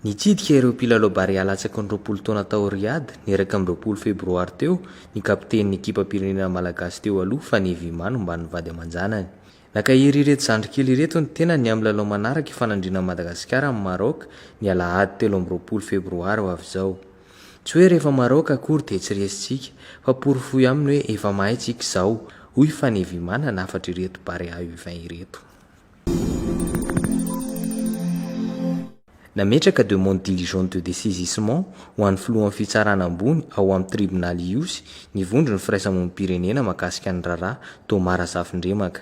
Nitsidika ireo mpilalao Barea latsaky ny roapolo taona tao Riyadh, ny iraika amby roapolo febroary teo, ny kapitenin'ny ekipam-pirenena malagasy teo aloha, Fanevy Imah nomban'ny vady aman-janany. Nankahery ireto zandry kely ireto ny tenany amin'ny lalao manaraka ifanandrinan'i Madagasikara amin'i Maroc, ny alahady telo amby roapolo febroary ho avy izao. Tsy hoe rehefa Maroc akory dia tsy resintsika fa porofoy aminy hoe efa mahay tsika izao, hoy Fanevimanana hafatr'ireto Barea U vingt ireto. Nametraka demande diligente de dessaisissement ho an'ny filohan'ny fitsarana ambony ao amin'ny tribonaly Ihosy ny vondron'ny firaisamonim-pirenena mahakasika ny raharaha, Thomas Razafindriamaka.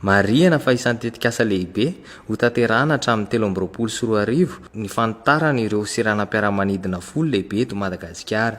Marihina fa isan'ny tetikasa lehibe hotanterahina hatramin'ny telo amby roapolo sy roa arivo ny fanitarana ireo seranam-piaramanidina folo lehibe eto Madagasikara.